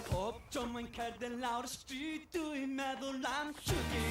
Pob tro mae'n cerdded lawr y stryd Dwi'n meddwl am Siwgi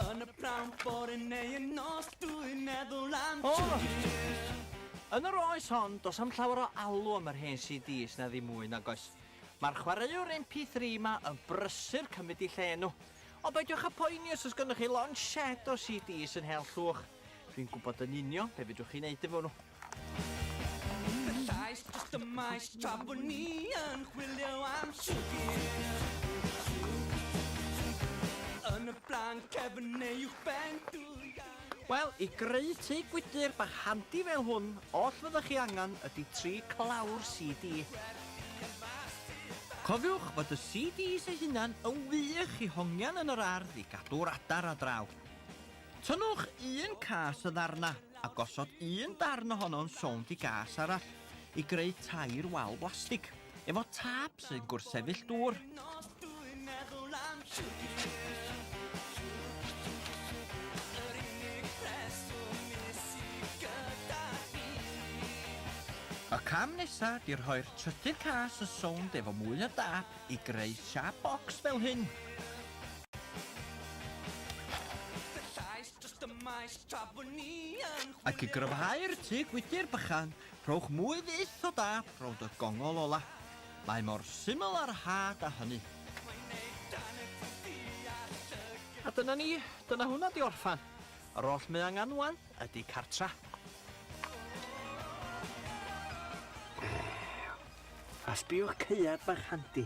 Yn y prawn bore neu yn nos Dwi'n meddwl am Siwgi Yn yr oes hon, does am llawer o alw am yr hen CDs na ddim mwy nag oes. Mae'r chwaraewr MP3 ma yn brysur cymryd i lle nhw. Ond peidiwch a poeni os oes gennych chi lond shed o CDs yn Hel Llwch. Dwi'n gwybod yn union be fedrwch chi wneud efo nhw. Fy llais dros y maes tra bod ni yn chwilio am siwgr Yn y blaen cefn neu uwch ben dwy Wel, i greu tŷ gwydr bach handi fel hwn, oll fyddwch chi angen ydy tri clawr CD. Cofiwch fod y CDs eu hunan yn wych i hongian yn yr ardd i gadw'r adar a draw. Tynnwch un cas o ddarna a gosod un darn ohono'n sownd i gas arall i greu tair wal blastig efo tâp sy'n gwrthsefyll dŵr. Y cam nesa di rhoi'r trydydd cas yn sownd efo mwy o dâp i greu siap bocs fel hyn. Ac i gryfhau'r tŷ gwydr bychan, rhowch mwy fyth o dâp rownd y gongol ola. Mae mor syml a rhad a hynny. A dyna ni, dyna hwnna 'di orffan. Yr oll mae angen 'wan ydi cartra. Grrr! A sbiwch caead bach handi.